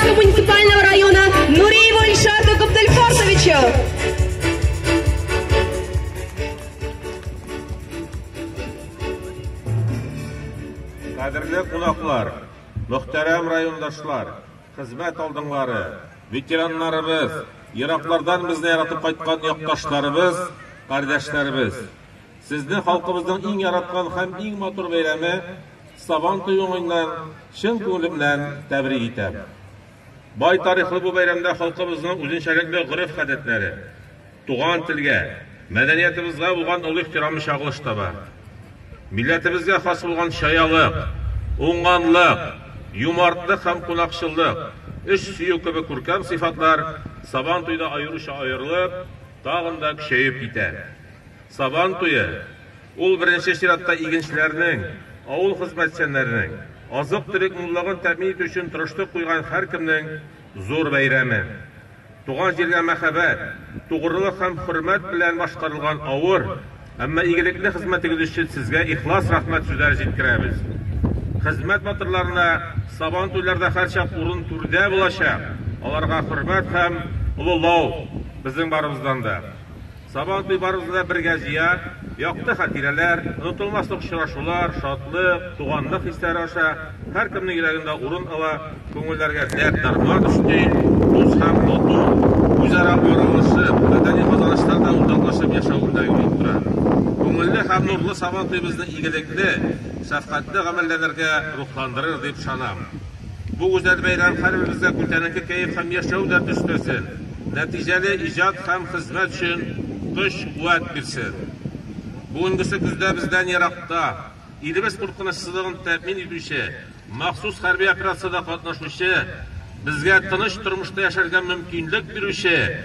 Кусы муниципального района Нуриева Ильшата Габдельфарсовича. Кадерле кунаклар, мөхтәрәм райондашлар, хезмәт алдыңлары, ветераннарыбыз, ераклардан безне яратып кайткан якташларыбыз, кардәшләребез. Сезне халкыбызның иң яраткан һәм иң матур бәйрәме Сабан туе уңаеннан чын күңелемнән тәбрик итәм. Бай тарихлы бу бәйрәмдә халкыбызның үзенчәлекле гореф-гадәтләре, туган телгә, мәдәниятыбызга булган олы ихтирамы чагылыш таба. Милләтебезгә хас булган чаялык, уңганлык, юмартлык һәм кунакчыллык, эш сөю кебек күркәм сыйфатлар Сабан туйда аеруча аерылып, тагын да көчәеп китә. Сабан туе! Ул беренче чиратта игенчеләрнең, авыл хезмәтчәннәренең, азык-төлек муллыгын тәэмин итү өчен тырышлык куйган һәркемнең зур бәйрәме. Туган җиргә мәхәббәт, тугрылык һәм хөрмәт белән башкарылган авыр, әмма игелекле хезмәтегез өчен сезгә ихлас рәхмәт сүзләре җиткерәбез. Хезмәт батырларына Сабантуйларда һәрчак урын түрдә булачак, аларга хөрмәт һәм олылау безнең барыбыздан да. Сабантуй барыбызны да бергә җыя, якты хатирәләр, онытылмаслык очрашулар, шатлык, туганлык хисләре аша һәркемнең йөрәгендә урын ала, күңелләргә дәрт-дарман өсти, дус һәм тату, үзара аралашып, мәдәни казанышларда уртаклашып яшәү үрнәге булып тора. Күңелле һәм нурлы Сабантуебызны игелекле, шәфкатьле гамәлләнергә рухландырыр дип ышанам. Бу гүзәл бәйрәм һәрберебезгә күтәренке кәеф һәм яшәү дәрте өстәлсен, нәтиҗәле иҗат һәм хезмәт өчен көч-куәт бирсен. Бүгенгесе көздә бездән еракта, илебез куркынычсызлыгын тәэмин итүче махсус хәрби операциядә катнашучы, безгә тыныч тормышта яшәргә мөмкинлек бирүче,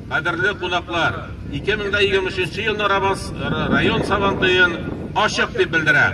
Кадерле кунаклар, 2023 нче елны Рабас район Сабантуен ачык дип белдерәм!